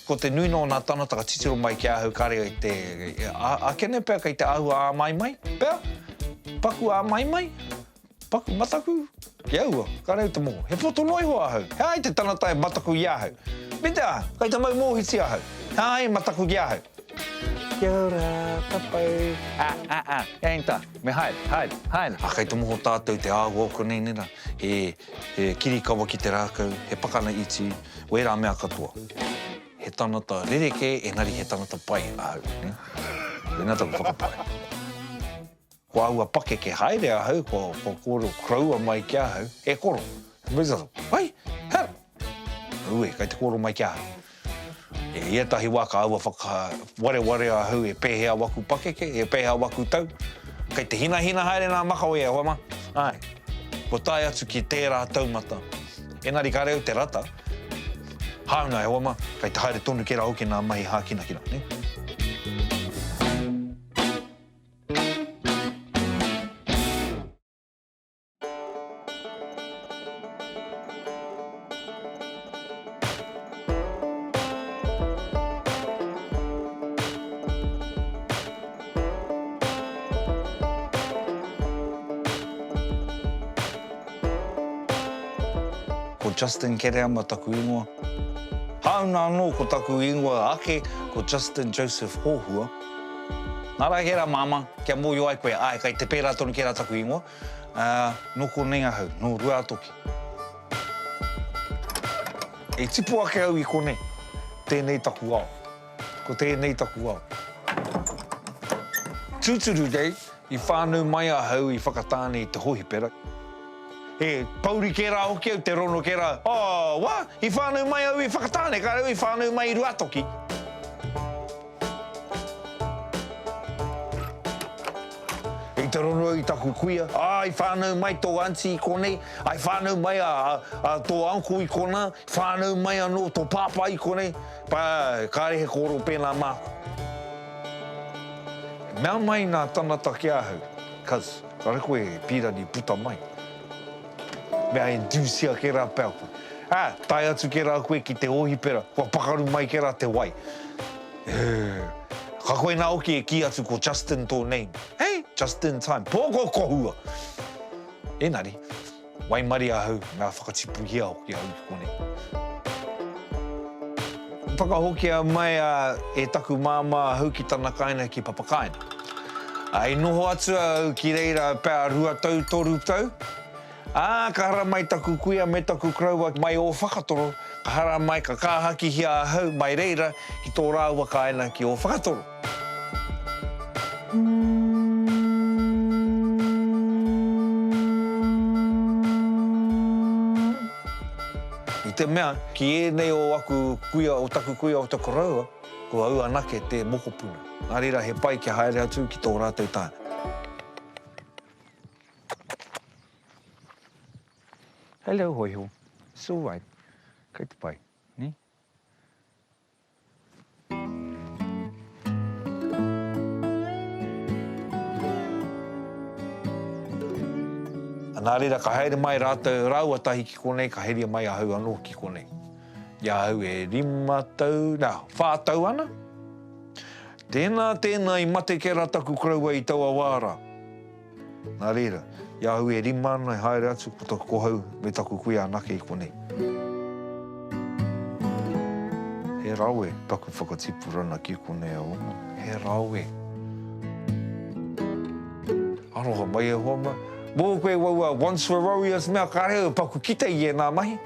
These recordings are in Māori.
Ko te nuinga o nā tānata ka titiro mai ki ahau kāre i te āke nei pea kei te āhua āmaimai pea, paku āmaimai, paku mataku ki aua, kāre au te moho. He poto noa iho ahau, he aha i te tangata e mataku i ahau? Me te aha, kei te mau mōhiti ahau, he aha i mataku ki ahau? Kia ora, papau. Ā, ā, ā, he aha i tā? Me haere, haere, haere. A kei te moho tatou te ahua o konei nei ra, he kirikawa ki te rakau, he pakana iti, wera mea katoa. He tangata rereke engari he tangata pai ahau, ne. Tena taku whakapae. Ko aua pakeke haere ahau, ko ko koro koroua mai ki ahau, e koro, Mister, hai, hau. Ue, kei te koro mai ki ahau. I ētahi wā ka aua whakawareware ahau e pēhea waku pakeke, e pēhea waku tau. Kei te hinahina haere nā Makawe e hoa mā, āe, kua tae atu ki tērā taumata. Engari kāre au te rata, hāunga e hoa mā, kei te haere tonu kē rā hoki nā mahi hākinakina, nē. Ko Justin Kereama taku ingoa. Hāuna anō ko taku ingoa ake, ko Justin Joseph Hohua. Nā reira, māmā, kia mōhio ai koe, āe, kei te pērā tonu kērā taku ingoa. Ā, nō konei ahau, nō Ruātoki. E tipu ake au i konei, tēnei taku ao. Ko tēnei taku ao. Tūturu kei, i whānau mai ahau i Whakatāne i te hōhipera. He pōuri kē rā hoki au, te rono kē rā, Oh, what? I whānau mai au i Whakatāne, kāre au i whānau mai i Ruātoki. I te rongo i taku kuia, ā, i whānau mai tō aunty i konei, ā, i whānau mai a, a, tō uncle i konā, i whānau mai anō tō pāpā i konei, pā, kāre he kōrero pēnā māku. Mea mai ngā tangata ki ahau, cuz, kare koe e pīrani puta mai. Me a induce-ia ke ra pea koe. A, tae atu ke ra koe ki te ohipera, kua pakaru mai ke ra te wai. Ugh. Ka koina hoki e ki atu ko Justin to name. Hey, just in time. Poko kohua! Enari, waimarie ahau, mea whakatipuhia hoki ahau ki konei. Whakahokia mai a e taku māmā ahau ki tana kāina ki Papakāina. I noho atu ahau ki reira pea rua tau toru tau, ā, ka hara mai taku kuia me taku koroua mai Ōwhakatoro, ka hara mai ka kāhakihia ahau mai reira ki tō rāua kāina ki Ōwhakatoro. I te mea, ki ēnei o aku kuia, o taku kuia o te koroua, ko au anake te mokopuna. Nā reira, he pai kia haere atu ki tō rātou taha. Hello, Hoiho. It's all right. Kei te pai, nē? Nā reira, ka haere mai rātou rāua tahi ki konei, ka heria mai ahau anō ki konei. I a au e rima tau, nā, whā tau ana. Tēnā, tēnā, i mate kē rā taku koroua i taua wā rā. Nā reira, i ahau e rima ana e haere atu ko taku kohau me taku kuia anake i konei. He rawe taku whakatipurana ki konei a Oma. He rawe. Aroha mai e hoa mai. Mō koe wau a Once were warriors mea ka reo e paku kite i ēnā mahi.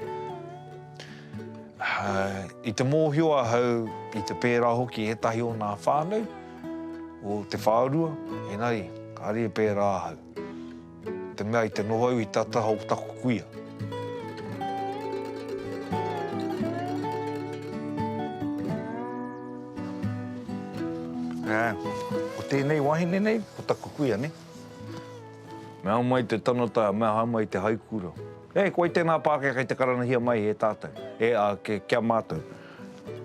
I te mōhio ahau, i te pērā hoki ētahi o nā whānau, o te whārua, engari, kāre e pērā ahau. Ko te mea i te noho au i tā taha o taku kuia. Ā, ko tēnei wahine nei, ko taku kuia, nē. Me aha mai te tangata, me aha mai te haikura. Nē, ko wai tēnā Pākehā kei te karanahia mai e tātou, e, ā, kia mātou.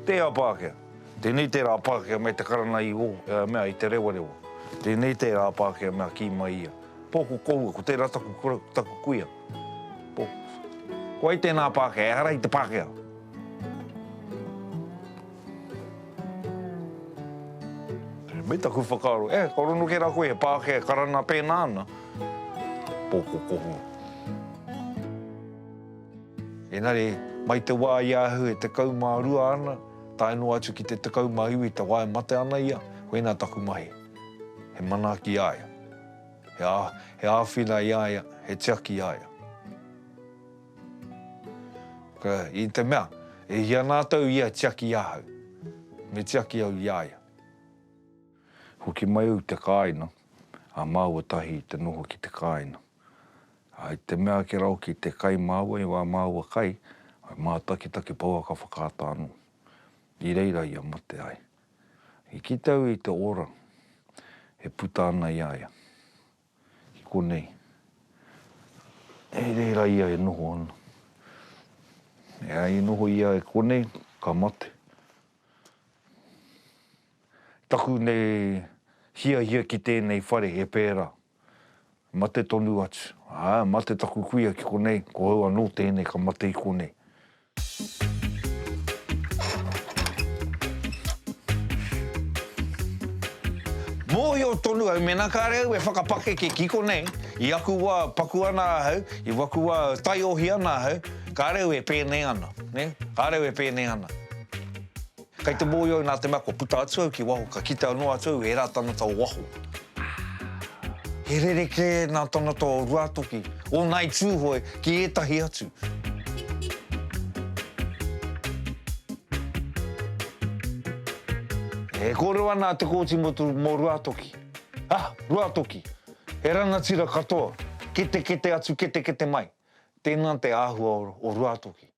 Tēā Pākehā. Tēnei tērā Pākehā me te karanga i ō, ea mea i te rewarewa. Tēnei tērā Pākehā mea kī mai ia. Pō ko kōua, ko tērā taku kura, ko taku kuia. Pō. Ko ai tēnā Pākehā, ehara i te Pākehā. Me taku whakaaro, eh, kua rongo kē rā koe he Pākehā e karanga pēnā ana. Pō ko kōua. Engari, mai te wā i a Ahu e tekau mā rua ana, tae noa atu ki te tekau mā iwi te wā e mate ana ia, koinā taku mahi, he manaaki i a ia, he, he āwhina i a ia, he tiaki i a ia. Ka, i te mea, e hia nā tau ia tiaki i ahau, me tiaki au i a ia. Hoki mai au i te kāina, ā, māua tahi te noho ki te kāina. I te mea ake rau ki te kai māua i wā māua kai, whai mātakitaki pouaka whakaata anō. I reira ia mate ai. I kite au i te ora e puta ana i a ia. Ki konei. I reira ia e noho ana. E ai i noho ia e konei, ka mate. Taku nei hiahia ki tēnei whare he pērā. Mate tonu atu. Ā, mate taku kuia ki konei, ko au anō tēnei ka mate i konei. Mōhio tonu au mēnā kāre au e whakapakeke ki konei, i aku wā paku ana ahau, i waku wā taiohi ana ahau, kāre au e pēnei ana, nē, kāre au e pēnei ana. Kei te mōhio au nā te mea kua puta atu au ki waho ka kitea noa atu au ērā tangata o waho. He rerekē nā tangata o Ruātoki, o Ngāi Tūhoe ki ētahi atu. E kōrero ana Te Kooti Motu mō Ruātoki, Ha! Ruātoki! He rangatira katoa, ketekete atu ketekete mai. Tēnā te āhua o Ruātoki.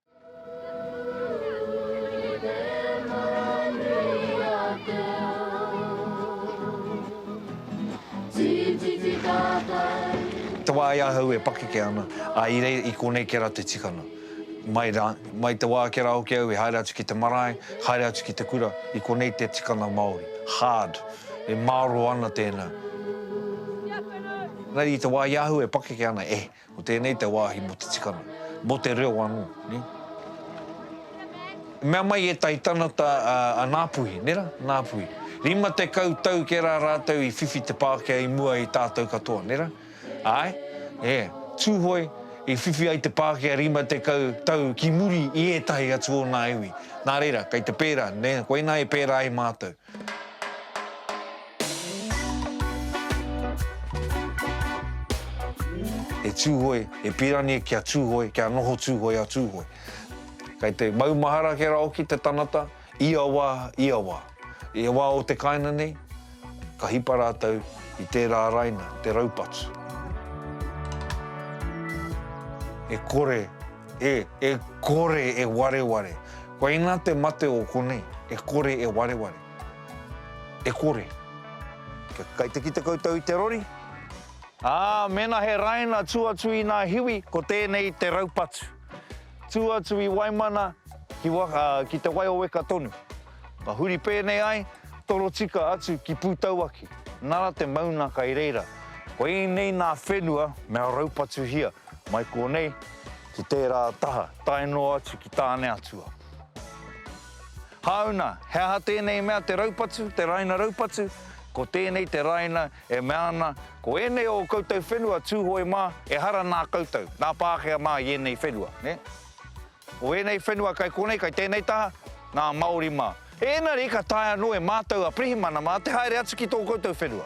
Te wā i ahau e pakeke ana, ā, i reira, i konei kē rā te tikanga. Mai rā, mai te wā kē rā hoki au e haere atu ki te marae, haere atu ki te kura, i konei te tikanga Māori. Hard. E mārō ana tēnā. Engari i te wā i ahau e pakeke ana, e. Ko tēnei te wāhi mō te tikanga, mō te reo anō. I mea mai ētahi tanata a Ngāpuhi, nē rā, Ngāpuhi, 50 tau kē rā rātou i whiwhi te Pākehā i mua i tātou katoa, nē rā? Āe, ē, Tūhoe i whiwhi ai te Pākehā 50 tau ki muri i ētahi atu o nā iwi. Nā reira, kei te pērā, nē, koinā e pērā ai mātou. E Tūhoe, e Pirani ki a Tūhoe, kia noho Tūhoe a Tūhoe. Kei te maumahara kera hoki te tangata, ia wā, ia wā. Ia wā o te kāinga nei, ka hipa rātou i tērā raina, te raupatu. E kore. E, e kore e wareware. Koina te mate o konei, e kore e wareware. E kore. Kia kaikitaki koutou i te rori. Ā, mēnā he raina tū atu i nā hiwi, ko tēnei te raupatu. Tū atu i Waimana ki wa, ā, ki Te Waioweka tonu. Ka huri pēnei ai, torotika atu ki Pūtauaki. Nara te mauna kai reira. Koinei nā whenua mea raupatuhia. Mai kōnei, ki tērā taha, tae noa atu ki Tāneatua. Hāuna, he aha tēnei mea te raupatu, te rāina raupatu? Ko tēnei te rāina e mea ana, ko ēnei o ō koutou whenua Tūhoe mā, ehara nā koutou, nā Pākehā mā i ēnei whenua, nē? Ko ēnei whenua kai kōnei, kai tēnei taha, nā Māori mā. Ēnari ka taea noa e mātou a Pirihimana mā te haere atu ki tō koutou whenua.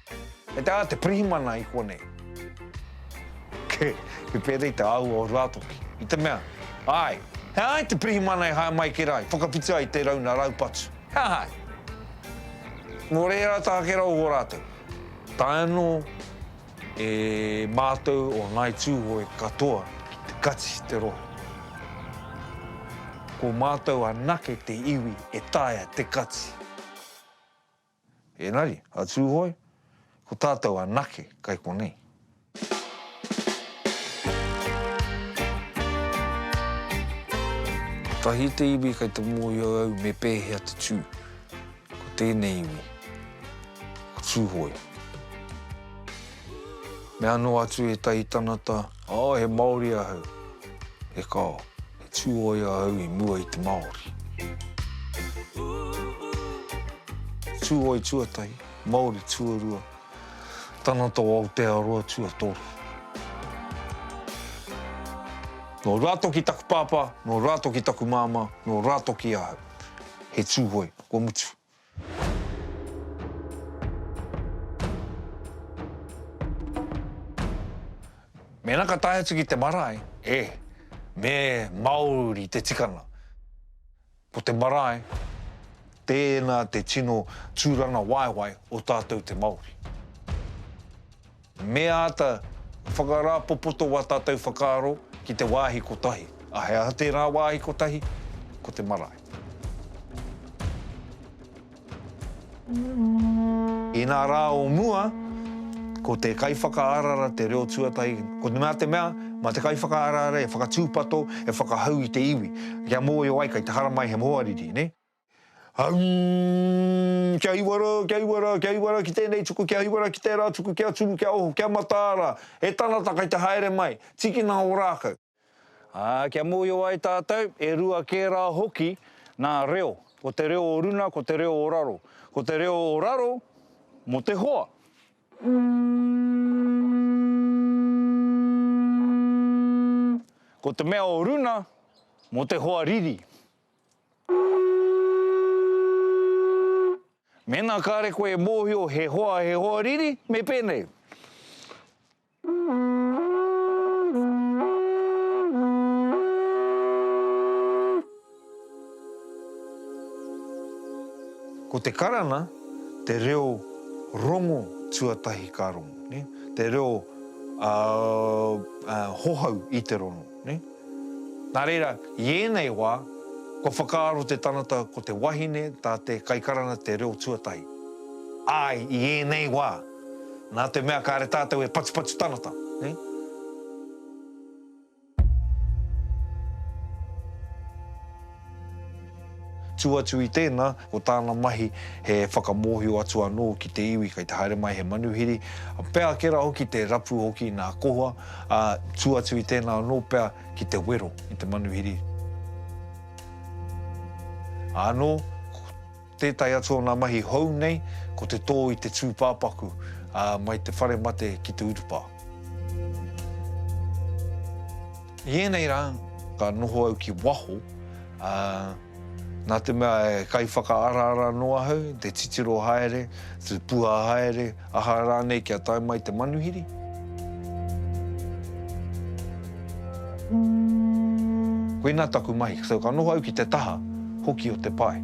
Kei te aha te pirihimana i konei? Kei, kei pēnei i te āhua o Ruatoki. I te mea, āe, he aha i te pirihimana e hae mai ki rā, i whakawhiti ai tērā una raupatu? He aha ai? Nō reira tā Kera o Horātou, tae anō e mātou o Ngāi Tūhoe katoa ki te kati i te rohe. Ko mātou anake te iwi e taea te kati. Engari, a Tūhoe, ko tātou anake kai konei. Kotahi te iwi kai te mōhio au me pēhea te tū. Ko tēnei iwi, ko Tūhoe. Me anō atu ētahi tanata, Oh, he Māori ahau. E kao. Tūoia au i mua i te Māori. Tūoi tuatahi, Māori tuarua, Tangata o Aotearoa tuatoru. Nō Rātoki taku pāpā, nō Rātoki taku māmā, nō Rātoki ahau. He Tūhoe, kua mutu. Mēnā ka tae atu ki te marae, e, me māori te tikanga. Ko te marae, tēnā te tino tūrangawaewae o tātou te Māori. Me āta whakarāpopoto wā tātou whakaaro ki te wāhi kotahi. A he aha tērā wāhi kotahi? Ko te marae. I ngā rā o mua, ko te kaiwhakaarara te reo tuatahi, ko te mea te mea, mā te kaiwhakaarara e whakatūpato, e whakahau i te iwi, kia mōhio ai kei te haramai he hoariri, nē? Hum, kia hiwa ra, kia hiwa ra, kia hiwa ra ki tenei tuku, kia hiwa ra ki tera tuku, kia turu, kia oho, kia mataa ra, he tangata kai te haere mai, tikina o rakau. Ah, kia mohio ai tatou, e rua ke ra hoki na reo, ko te reo o runa, ko te reo o raro. Ko te reo o raro mo te hoa. Ko te mea o runa mo te hoa riri. Mēnā kāre koe e mōhio he hoa, he hoa riri, me pēnei. Ko te karana, te reo rongo tuatahi ka rongo, te reo hohau i te rongo. Nā reira, i ēnei wā, kua whakaaro te tangata ko te wahine tā te kaikaranga te reo tuatahi. Āe, i ēnei wā, nā te mea kāre tātou e patupatu tangata. Tū atu i tēnā, ko tāna mahi he whakamōhio atu anō ki te iwi kei te haere mai he manuhiri, pea ake rā hoki te rapu hoki nā Kohoa, ā, tū atu i tēnā anō pea ki te wero i te manuhiri. Ānō, ko. Tētahi atu o ngā mahi hou nei ko te tō i te tūpāpaku mai te whare mate ki te urupā. I ēnei rā, ka noho au ki waho, ā, nā te mea e kaiwhakaaraara noa au, te titiro haere, te puha haere, Aha rānei kia tae mai te manuhiri? Koinā taku mahi, so ka noho au ki te taha hoki o te pae.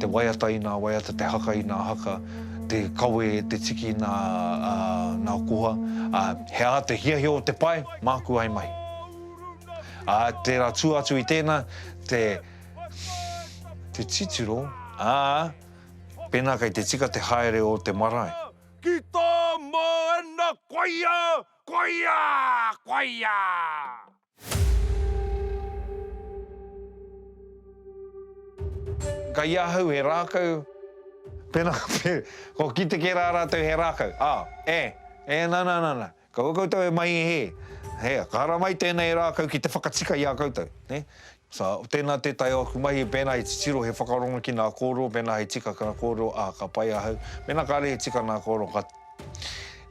Te waiata i nā waiata, te haka i nā haka, te kawe, te tiki i nā koha. He aha te hiahia o te pae? Māku ai mai. Ā, tērā tua atu i tēnā, te titiro, ā, Pēnā kei te tika te haere o te marae. Ki tā Māna koia, koia, koia! Kei ahau he rākau. Pēnā, kua kite kē rā rātou he rākau, ā, e, e, nana, nana. Kaua koutou e mai hē, hē, ka ara mai tēnei rākau ki te whakatika i a koutou, nē. So, tēnā tētahi o aku mahi, pēnā he titiro, he whakarongo ki nā kōrero, pēnā he tika ki nā kōrero, ā, ka pai ahau. Mēnā kāre he tika nā kōrero, ka,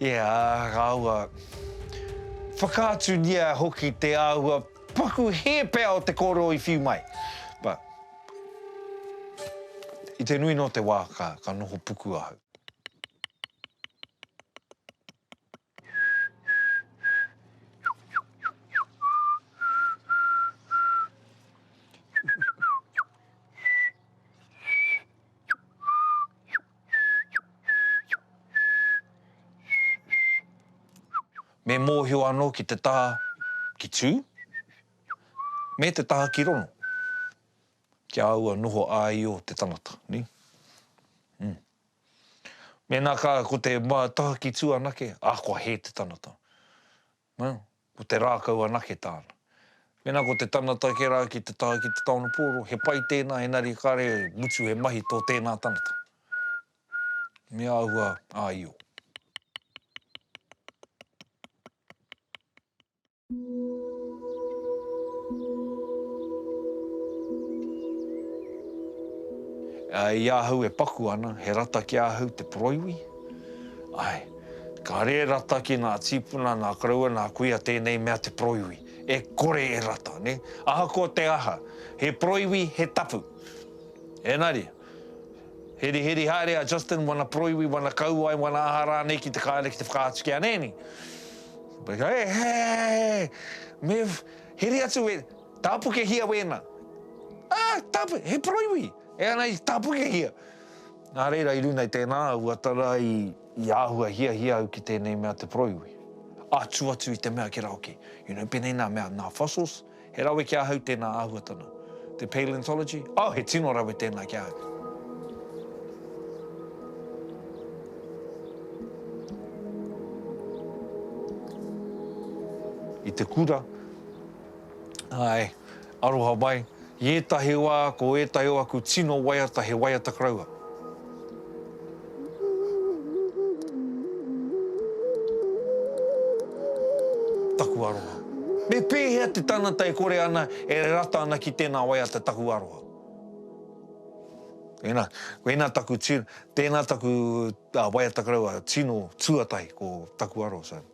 ia, ka āhua whakaaturia hoki te āhua paku hē pea o te kōrero i whiu mai. But, i te nui nō te wā, ka, ka noho puku ahau. Me mōhio anō ki te taha ki tū, me te taha ki rono, kia āua noho āio te tangata, nē? Mēnā ka, ko te mātahaki tū anake, ā, kua hē te tanata. Well, ko te rākau anake tāna. Mēnā ko te tanata kē rā ki te taha ki te taono pōro, he pai tēnā engari kāre e mutu he mahi tō tēnā tanata. Me āhua āio. I ahau e paku ana, he rata ki ahau te poroiwi. Ae, ka re rata ki nga tipuna, na koroua, na kuia tenei mea te poroiwi. E kore e rata, ne. Ahakoa te aha, he poroiwi, he tapu. Enari. Hirihiri haere a Justin wana poroiwi, wana kauae, wana aha rānei ki te kāre ki te whakaatu ki a Nanny. He, he, me heri atu e, tāpukehia wēna. Ah, tāpu, he poroiwi, e ana i tāpukehia. Nā reira i runei tēnā au a tara i, i āhua hiahia au ki tēnei mea te poroiwi. Atu atu i te mea ki rāoke, you know, penei nā mea, nā fossils, He rawe ki ahau tēnā āhuatanga. Te Paleontology, oh, he tino rawe tēnā ki ahau. I te kura, āe, aroha mai, i ētahi wā ko ētahi o aku tino waiata he waiata karaua. Taku aroha. Me pēhea te tangata e kore ana e rata ana ki tēnā waiata taku aroha? Ēnā, ēnā taku tino, tēnā taku waiata karaua tino tuatahi ko taku aroha, so.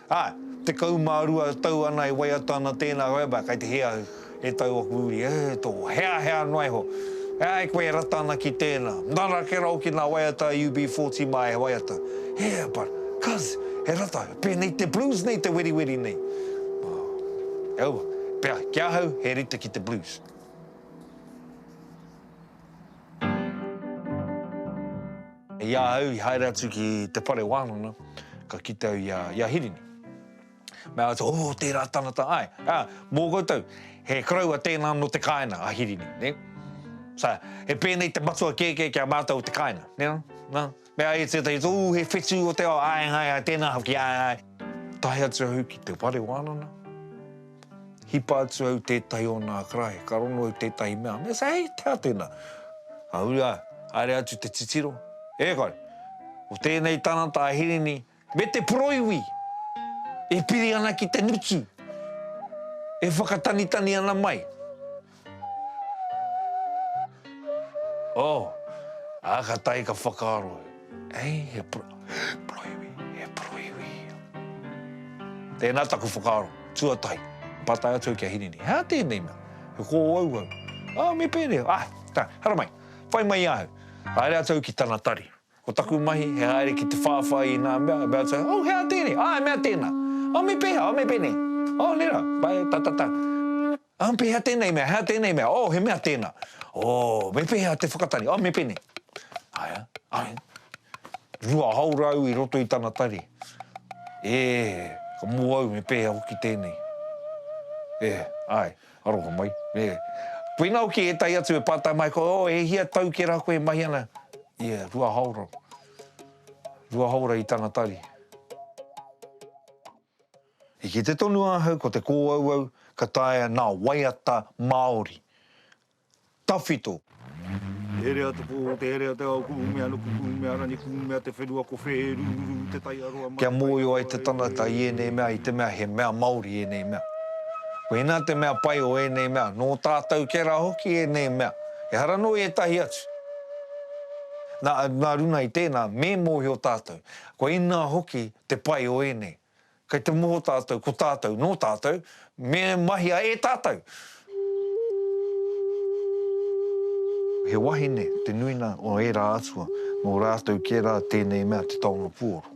Ā, tekau mā rua tau ana e waiata ana tēnā Roebuck, kei te hē au, e tau oku uri, e tō, hea, hea noa iho, e ai koe e rata ana ki tēnā, nara ke raro ki nā waiata a UB40 mā e waiata, e, but, cuz, he rata, pēnei te blues nei te weriweri nei. Ā, e aua, pea, ki ahau, he rite ki te blues. I a au i haere atu ki te whare wānanga, ka kite au i a, i a Hirini. Mea atu, oh, tērā tangata, āe. Ā, mō koutou, he koroua tēnā nō te kāinga, a Hirini, nē. So, he pēnei te matua kēkē ki a mātou o te kāinga, nē, nā. Me ai tētahi tō, ū, he whetū o te ao, āe, āe, āe, tēnā hoki, āe, āe. Tae atu au ki te whare wānanga, hipa atu au tētahi o nā karaehe, ka rongo au tētahi mea, me say, hei, tēhā tēnā? Ka huri a, haere atu te titiro, e kore, ko tēnei tangata a Hirini, Me te poroiwi e piri ana ki te ngutu e whakatanitani ana mai. Oh, a ka tae ka whakaaro, Hei, he poroiwi, he poroiwi. Tēnā taku whakaaro, tuatahi, pātai atu au ki a Hirini, He aha tēnei mea? He kōauau. Oh, me pēnei. Ah, tā, haramai, whai mai i ahau. Haere atu au ki tana tari. Ko taku mahi, he haere ki te whāwhai i ngā mea, about say, Oh, he aha tēnei? Ah, he mea tēnā. Oh, me pēhea? Oh, me pēnei. Oh, nera, pae, ta, ta, ta. Oh, pēhea tēnei mea? He aha tēnei mea? Oh, he mea tēnā. Oh, me pēhea te whakatari? Oh, me pēnei. Aea, aea. Rua hau rāu i roto i tana tari. E, ka mō au me pēhea hoki tēnei. E, ae. Aroha mai, yeah. Koina hoki etahi atu e patai mai koe, oh, e hia tau ke ra koe e mahi ana? Yeah, rua haora. Rua haora i tana tari. I kite tonu ahau ko te kōauau ka taea nā waiata Māori Tawhito. Herea te pō, te herea te ao, Kuhumea no Kuhumea rani, Kuhumea te whenua ko whē, Rururu te taiaroa mai, Kia mōhio ai te tangata i ēnei mea i te mea he mea Māori ēnei mea. Koinā te mea pai o ēnei mea, nō tātou kē rā hoki ēnei mea, ehara nō i ētahi atu. Nā, nā runga i tēnā, me mōhio tātou, koinā hoki te pai o ēnei. Kei te moho tātou ko tātou, nō tātou, me mahia e tātou. He wahine te nuina o ērā atua, nō rātou kē rā tēnei mea te taonga puoro.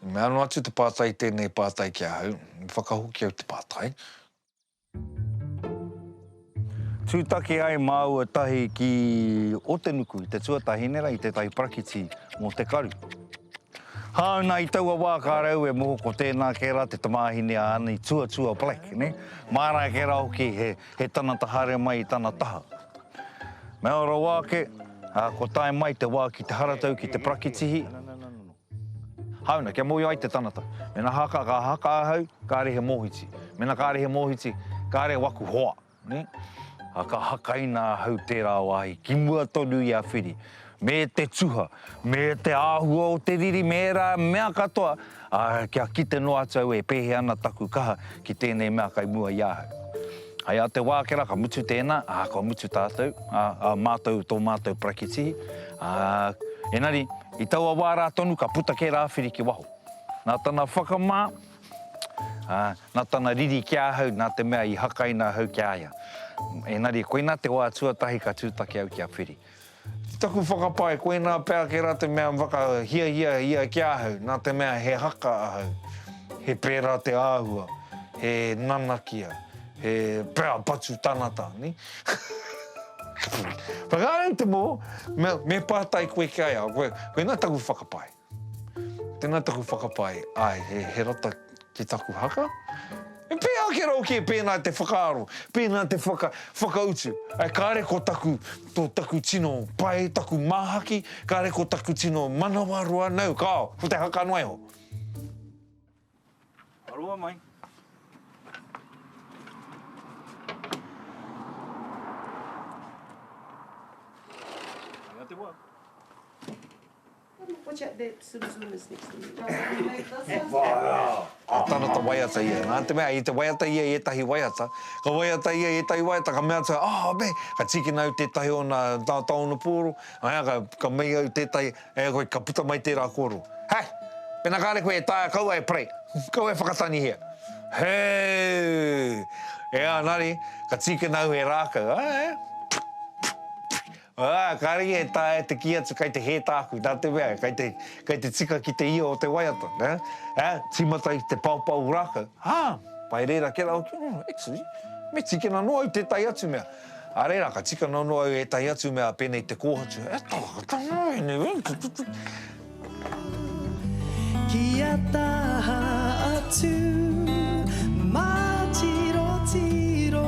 I mea noa atu te pātai tēnei pātai ki ahau, i whakahoki au te pātai. Tūtaki ai māua tahi ki Otenuku i te tuatahi nera i tētahi parakiti mō te karu. Hāuna i taua wā ka rau e moho ko tēnā kē rā te tamāhine a Ani Tuatua Black, nē? Māra kē rā hoki he, he tanata haere mai i tana taha. Mea rawa ake, ā, kua tae mai te wā ki te haratau ki te parakitihi, Hauna, kia mōhio ai te tangata, mēnā haka, ka haka ahau, kāre he mōhiti. Mēnā kāre he mōhiti, kāre waku hoa, nē. Ā, ka hakaina ahau tērā wāhi ki mua tonu i a Whiri, me te tuha, me te āhua o te riri, me ērā mea katoa, ā, kia kite noa atu au e pēhea ana taku kaha ki tēnei mea kai mua i ahau. Hei a Te Wākera, ka mutu tēnā, ā, kua mutu tātou, ā, ā mātou, tō mātou parakitihi, ā, engari, i taua wā rā tonu ka puta kē Rāwhiri ki waho. Nā tana whakamā, ā, nā tana riri ki ahau, nā te mea i hakaina ahau ki a ia. Engari, koinā te wā tuatahi ka tūtaki au ki a Whiri. Ki taku whakapae, koinā pea ake rā te mea whakahiahia ia ki ahau, nā te mea he haka ahau, he pērā te āhua, he nanakia, he pērā patu tanata. Whakaari te mō, me pātai koe ki a ia, koinā taku whakapae. Tena taku whakapae, ae, he rata ki taku haka? E pea ake rau ke pena te whakaaro, pena te whaka, whakautu. Ae, kare ko taku, to taku tino pae, taku mahaki, kare ko taku tino manawa roa, nau, kao, ko te haka noa iho. Aroa mai. Anga te wa. Watch out that Zoom Zoom is next to me. Ka tana ta waiata ia. Nā te mea, i te waiata ia i ētahi waiata, ka waiata ia i ētahi waiata, ka mea atu, oh, me, ka tīkina au tētahi o nā, nā tāonga pōro, ā, ka, ka mei au tētahi, Heoi, ka puta mai tērā kōrero, Hey! Pēnā kāre koe e taea kaua e pray, kaua e whakatanihia. Hey! Ea nari, ka tīkina au he rākau, Ā, ā, Ā, kāre ia e taea te kī atu kei te hē tāku, nā te mea, kei te, kei te tika ki te io o te waiata, nē? Ā, tīmata i te paopao rākau, Ā, pai reira, kē rā hoki, Actually, me tīkina noa au tētahi atu mea. Ā reira, ka tika nono au ētahi atu mea pēnei te kōhatu, e tarakata noa ēnei wēnei te tutu. Kia taha atu mā tiro tiro.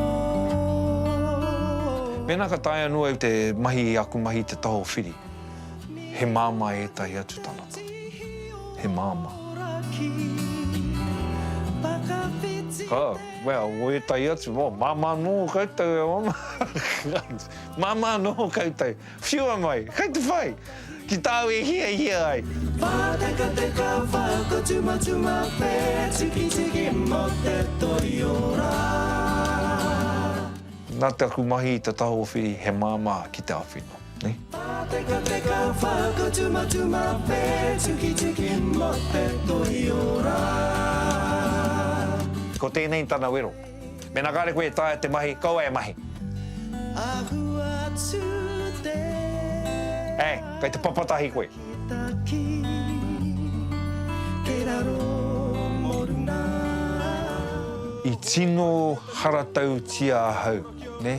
Pēnā ka taea noa au te mahi i aku mahi te taho whiri, he māmā ētahi atu tangata. He māmā. Ka. Well, o ētahi atu, oh, māmā nō koutou e ono. māmā nō koutou. Whiua mai, kei te whai, ki tāu e hiahia ai. Pātekateka, whakatumatuma, pētikitiki mō te toiora. Nā te aku mahi i te taho whiri he māmā ki te awhina. Pātekateka, whakatumatuma, pētikitiki mō te toiora. Ko tēnei tana wero. Mēnā kāre koe e taea te mahi, kaua e mahi. Ahu atu te awa. Ē, kei te papatahi koe. Takitaki, kei raro mō runga. I tino haratautia ahau, nē.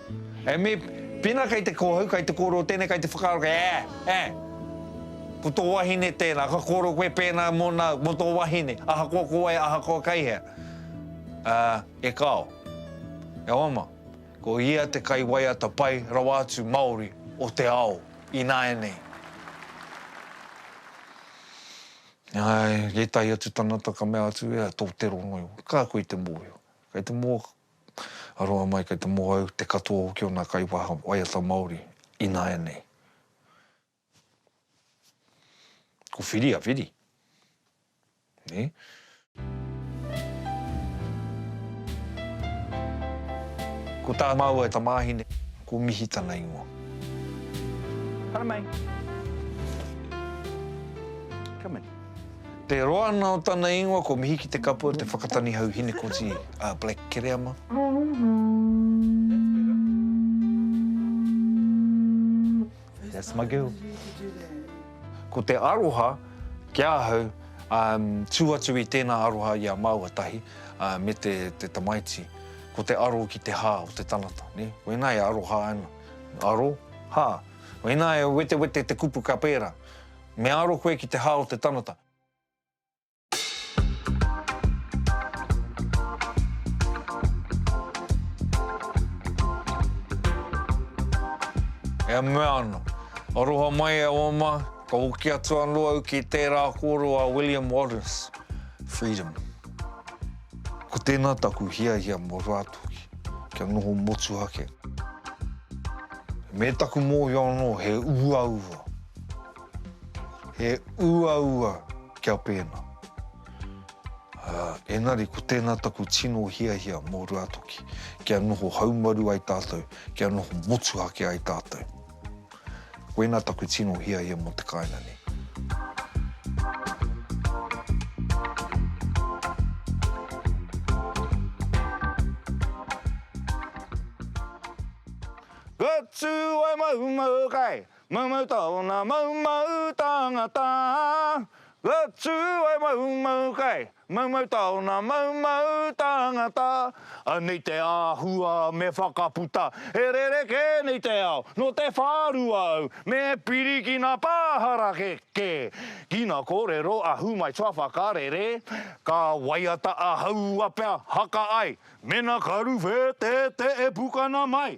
E me, Pena kei te kōhau, kei te kōrero tēnei, kei te whakaaro, kei, eh, eh. Ko tō wahine tēnā, ka kōrero koe pēnā mō nā, mō tō wahine, ahakoa ko wai, ahakoa kei hea. Uh, e kāo. E oma, ko ia te kaiwaiata pai rawa atu Māori o te ao ināianei. Āe, ētahi atu tangata ka mea atu, ea, tō te rongo iho. Ka koe te mōhio. Kei te mō. a roa mai kei te mōhau te katoa hoki o nā kaiwaha waiata Māori ināianei. Ko Whiri a Whiri. Ko tā māua tamāhine, ko Mihi tana ingoa. Haramai. Come in. Te roa ana o tana ingoa ko Mihiki Te Kapua Te Whakatanihau Hinekoti a Black Kereama.That's my girl. Ko te aroha ki ahau, tū atu i tēnā aroha i a māua tahi me te tamaiti, ko te aro ki te hā o te tangata. Koinā e aroha ana, aro, hā. Koinā e wetewete te kupu ka pērā. Me aro koe ki te hā o te tangata. E mea ana, Aroha mai e oma, ka hoki atu anō au ki tērā kōrero a William Wallace, Freedom. Ko tēnā taku hiahia mō Rātoki, kia noho motuhake. Me taku mōhio anō he uaua. He uaua kia pēnā. Ā, engari ko tēnā taku tino hiahia mō Ruatoki, kia noho haumaru ai tātou, kia noho motuhake ai tātou. Koinā taku tino hiahia mō te kāinga nei. Go to Waimaumau kai! Maumau tōna maumau tāngata, ka tū ai maumau kai. Maumau tōna maumau tāngata, anei te āhua me whakaputa, he rerekē nei te ao, nō te whārua au, me pirikina pāharake kē. Ki ngā kōrero a Humai Toa Whakarere, ka waiata a Haua pea haka ai, mena karu whētētē e pukana mai.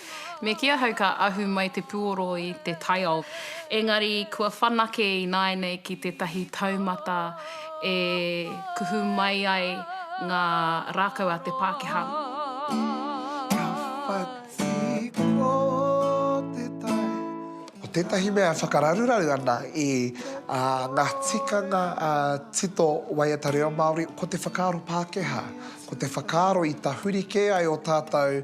Me kī ahau ka ahu mai te puoro i te taiao. Engari kua whanake ināianei ki tētahi taumata e kuhu mai ai ngā rākau a te Pākehā. Ko tētahi mea e whakararuraru ana i ngā tikanga tito waiata reo Māori, ko te whakaaro Pākehā, ko te whakaaro i tahuri kē ai ō tātou